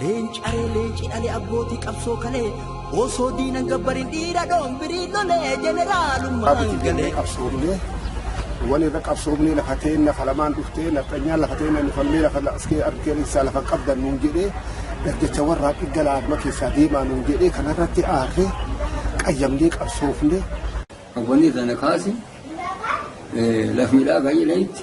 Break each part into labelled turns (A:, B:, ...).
A: Leencaree leenci dhale abbootii qabsoo kalee osoo diinan gabbarin dhiira dhoombirii lolee jeneraalummaan Abiti galee. jennee qabsoomnee
B: waan irra qabsoomnee lafa teenna falamaan dhuftee nafxanyaan lafa teenna nufallee lafa askee arkeen isaa lafa qabdan nuun jedhee darjacha warraa dhigga laadma keessaa deemaa nuun jedhee kanarratti aarree qayyamnee qabsoofnee Abbootiin
C: sana kaase lafmidhaa baay'ee dhahitti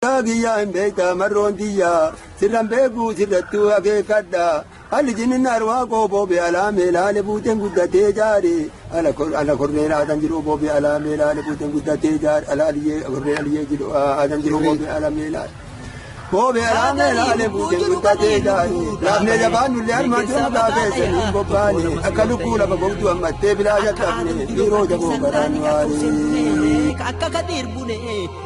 D: Yaa kiyyaa hin beektaa marroon tiyyaa sirran beekuu sirrattuu akeekkadha haalli jinnin arwaa koo boobi alaamee laale buuteen guddatee jaare ala kornee laadan jiru boobi alaamee laale buuteen guddatee jaare ala aliyyee kornee aliyyee jiru aadan jiru boobi alaamee laale. Boobi alaamee laale buuteen guddatee jaare laafnee jabaan nullee armaan jiru mukaa keessanii bobbaane akka lukkuu lafa gogtuu ammattee bilaa jattamne dhiiroo jaboo garaan waare. Akka kadiir
A: bunee.